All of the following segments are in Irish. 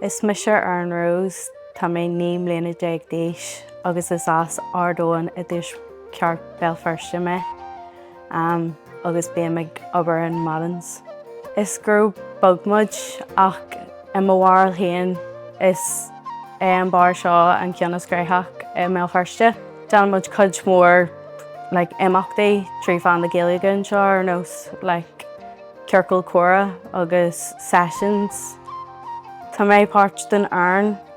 Is mise Erin Rose, tá mé 19 mbliana d'aois agus is as Ard Eoin i dTuaisceart Bhéal Feirste mé. agus bím ag obair in Madden's. Is grúpa beag muid ach i mo bharúil féin is é an beár seo an ceann is cruthaithí i mBéal Feirste. Déanann muid cuid mór like imeachtaí trí mheán na Gaeilge anseo ar nós like ciorcal comhrá agus sessions. Tá mé páirt den fhoireann.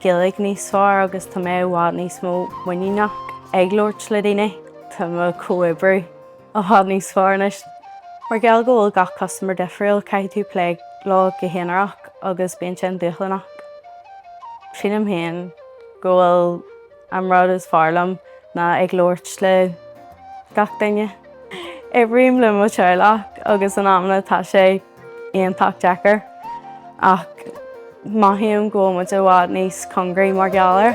Gaeilge níos fearr agus tá mé i bhfad níos mó muiníneach ag labhairt le daoine. Tá mo comhoibriú i bhfad níos fearr anois. Mar gheall go bhfuil gach custaiméir difriúil, caithfidh tú plé leo go haonarach agus bíonn sin dúshlánach. Sílim féin go bhfuil. An rud is fearr liom ná ag labhairt le gach duine. Oibrím le mo teaghlach agus in amanna tá sé iontach deacair ach mothaím go bhfuil muid i bhfad níos congaraí mar gheall air.